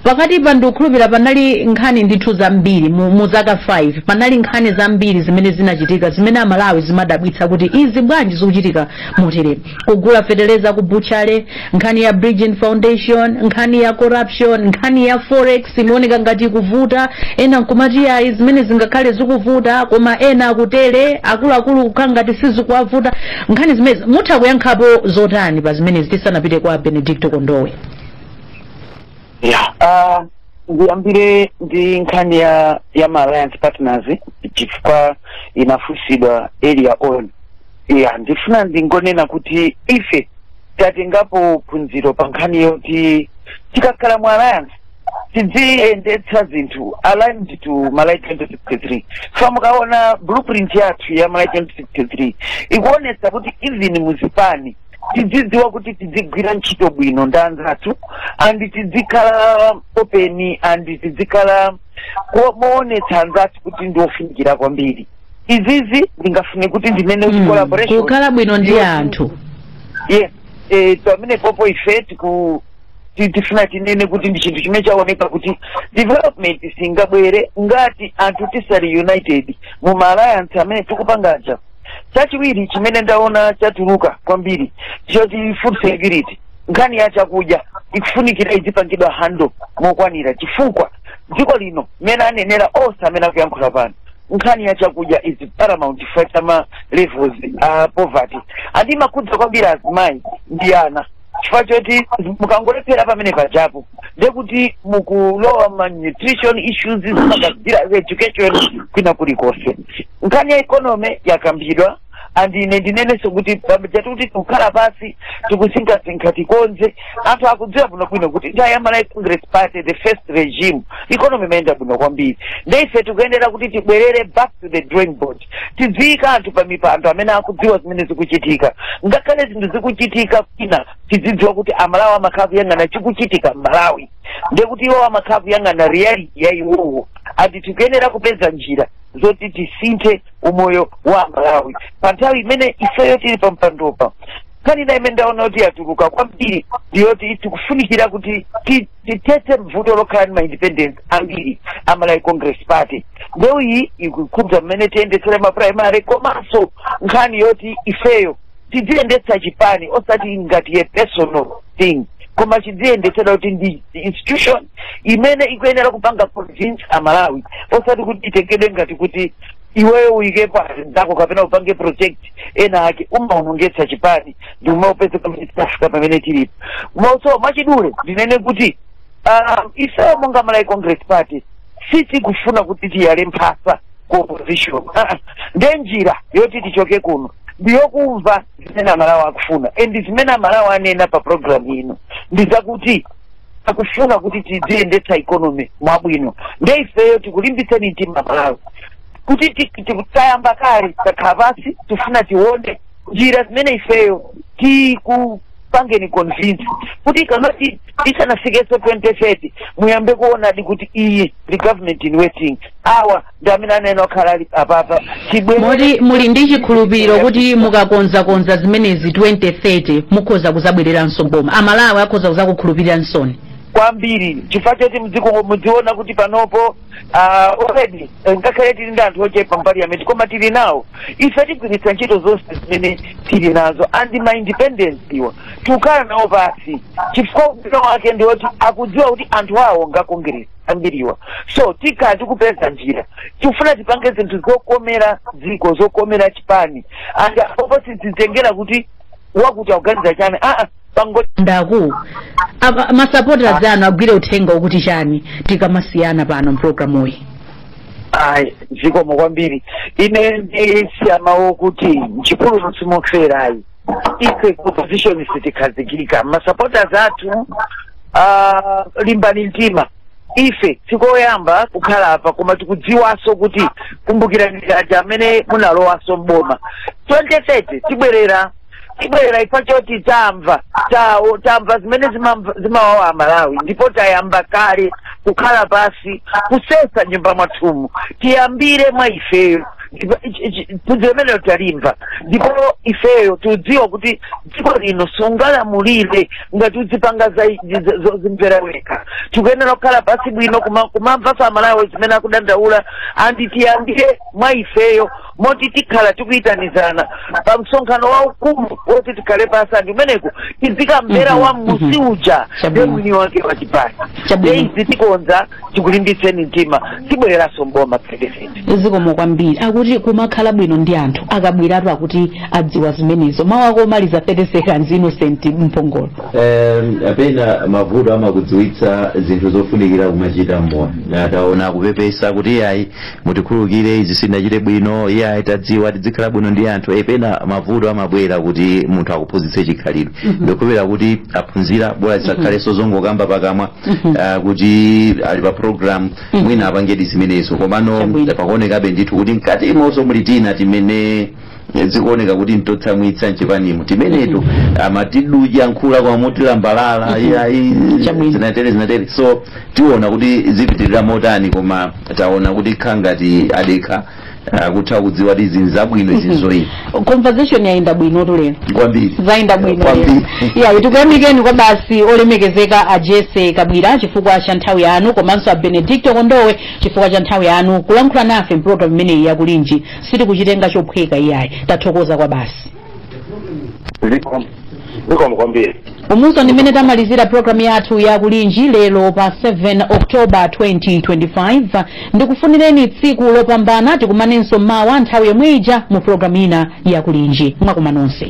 pakati pa ndikukhulupira panali nkhani ndithu zambiri mu, mu zaka 5 panali nkhani zambiri zimene zinachitika zimene amalawi zimadabwitsa kuti izi bwanji zikuchitika motere kugula feteleza ku butchery nkhani ya Bridgin Foundation nkhani ya corruption nkhani ya forex imaoneka ngati ikuvuta ena nkumati ayi zimene zingakhale zikuvuta koma ena akutere akuluakulu kukhala ngati sizikuwavuta nkhani zimenezi mutha kuyankhapo zotani pa zimenezi tisanapite kwa benedicto kondowe yeah. uh, ndiyambire ndi nkhani ya ya ma alliance partners chifukwa inafunsidwa earlier on ya ndifuna ndingonena kuti ife tatengapo phunziro pa nkhani yoti tikakhala mu alliance tidziyendetsa zinthu aligned to Malawi 2063 for mukaona blueprint yathu ya Malawi 2063 ikuonetsa kuti even muzipani tidzidziwa kuti tidzigwira ntchito bwino ndi anzathu and tidzikhala open and tidzikhala moonetsa anzathu kuti ndi ofunikira kwambiri izizi ndingafune kuti ndinene kuti Mm, collaboration kukhala bwino ndi Yes. anthu yes eh, pamenepopo ife tiku ti- tifuna tinene kuti ndi chinthu chimene chaoneka kuti development singabwere ngati anthu tisali united mu ma alliance amene tikupanga aja chachiwiri chimene ndaona chatuluka kwambiri choti food security nkhani ya chakudya ikufunikira idzipangidwa handle mokwanira chifukwa dziko lino mmene anenera onse amene akuyankhula pano nkhani ya chakudya is paramount chifukwa cha ma levels a poverty and imakhudza kwambiri azimayi ndi ana chifukwa choti mukangolephera pamenepajapo ndekuti mukulowa ma nutrition issues zimagazila education kwina kulikonse nkhani ya economy yakambidwa and ine ndinenenso kuti pamajatu kuti tikukhala pansi tikusinkhasinkha tikonze anthu akudziwa bwino bwino kuti nthawi ya malawi congress party the first regime economy imayenda bwino kwambiri nde ife tikuyenera kuti tibwerere back to the drawing board tidziika anthu pa mipando amene akudziwa zimene zikuchitika ngakhale zinthu zikuchitika kwina tidzidziwa kuti amalawi amakhala kuyang'ana chikuchitika mmalawi ndekuti iwo amakhala kuyang'ana reality ya iwowo and tikuyenera kupeza njira zoti tisinthe umoyo wa malawi pa nthawi imene ifeyo tili pa mpandopa nkhani ina imene ndaona kuti yatuluka kwambiri ndiyoti tikufunikira kuti ti- tithetse mvuto lokhala ndi ma independents ambiri a malawi congress party ndewu iyi ikukhudza mmene tiyendetsera ma primary komanso nkhani yoti ifeyo tidziyendetsa chipani osati ngati a personal thing koma chidziyendetsedwa kuti ndi institution imene ikuyenera kupanga convince amalawi osati kuti itengedwe ngati kuti iweyo uyikepo azinzako kapena upange project ena ake umaonongetsa chipani ndi umaupeza pamene tinafika pamene tilipo so mwachidule ndinene kuti um, ifeyo monga malawi congress party sitikufuna kuti tiyale mphasa ku opposition Ah, ah. nde njira yoti tichoke kuno ndiyokumva zimene amalawi akufuna and zimene amalawi anena pa programu ino ndi zakuti akufuna kuti tidziyendetsa economy mwabwino nde ifeyo tikulimbitseni mtima amalawi kuti ti- ti- ti- tayamba kale takhala pansi tifuna tione njira zimene ifeyo tiku pangeni convince kuti kamati isanafikeso 2030 muyambe kuonadi kuti iyi ndi government in waiting awa ndi amene anena okhala ali apapa chibwere moti muli ndi chikhulupiriro kuti mukakonzakonza zimenezi 2030 mukhoza kuzabwereranso boma amalawi akhoza kuzakukhulupiriraninsoni kwambiri chifukwa choti mdziko mudziona kuti panopo Ah, already eh, ngakhale tili ndi anthu ochepa mu parliament koma tili nawo ife tigwiritsa ntchito zonse zimene tili nazo and ma independents awa tikukhala nawo pasi chifukwa ubwino wake ndi woti akudziwa kuti anthu awo nga congress ambiriwa so tikhala tikupeza njira tikufuna tipange zinthu zokomera dziko zokomera chipani and apopo sizitengera kuti wakuti akuganiza chani aa pango ndaku apa- masupporters anu agwire uthenga wokuti chani tikamasiyana pano mpulogalamuyi ayi zikomo kwambiri ine ndisiya mawu kuti mchipululu simoferayi ife ku opposition sitikhazikika masupporters athu ah, limbani mtima ife sikoyamba kukhala apa koma tikudziwanso kuti kumbukirani aja amene munalowanso mboma 2030 tibwerera tibwerera chifukwa choti tamva tawo tamva zimene zimamva- zimawawa amalawi ndipo tayamba kale kukhala pasi kusesa nyumba mwathumu tiyambire mwa ifeyo Ndipo ichi- ichi- phunziro limenelo talimva ndipo ifeyo tikudziwa kuti dziko lino sungalamulire ngati udzipanga za- za- zozimvera wekha tikuyenera kukhala pasi bwino kuma- kumamva amalawi zimene akudandaula and tiyambire mwa ifeyo moti tikhala tikuyitanizana pa msonkhano waukulu woti tikhale pa asandi umeneko tizikamvera Mhm, wa mmusi mhm. uja Chabwino. ndiye mwini wake wa chipani Chabwino. nde izi tikonza tikulimbitseni mtima tibwereranso mboma 2030 zikomo kwambiri akuti kumakhala bwino ndi anthu a Kabwilatu akuti adziwa zimenezo mawu ako omaliza 30 seconds Innocent Mphongolo Em, pena mavuto amakudziwitsa zinthu zofunikira kumachita mmoyo taona akupepesa kuti ayi mutikhululukire izi sitinachite bwino iyayi tadziwa tidzikhala bwino ndi anthu e pena mavuto amabwera kuti munthu akuphunzitse chikhalidwe ndikhulupirira kuti aphunzira bola zisakhalenso zongokamba pakamwa ah, kuti ali pa program mwina apangedi zimenezo komano Chabwino. pakuonekabe ndithu kuti mkati umonso muli tina timene zikuoneka kuti n'totsamwitsa mchipanimo timenetu amati ndikuyankhula kwa motilambalala iyayi Chabwino. zinatere zinatere so tiona kuti zipitirira motani koma taona kuti nkhala ngati adekha akutha kudziwa kuti izi nzabwino izi nzoipa conversation yayenda bwino tu lero kwambiri zayenda bwino kwambiri ya tikuyamikeni kwabasi olemekezeka a Jessie Kabwila chifukwa cha nthawi yanu komanso a Benedicto Kondowe chifukwa cha nthawi yanu kulankhula nafe mpulogalamu imeneyi yakulinji sitikuchitenga chophweka iyayi tathokoza kwabasi zikomo zikomo kwambiri umu so ndi mmene tamalizira programu yathu ya kulinji lero pa 7 oktoba 2025 ndikufunireni tsiku lopambana tikumanenso mawa nthawi yomwe ija mu programu ina ya kulinji mwaswera nonse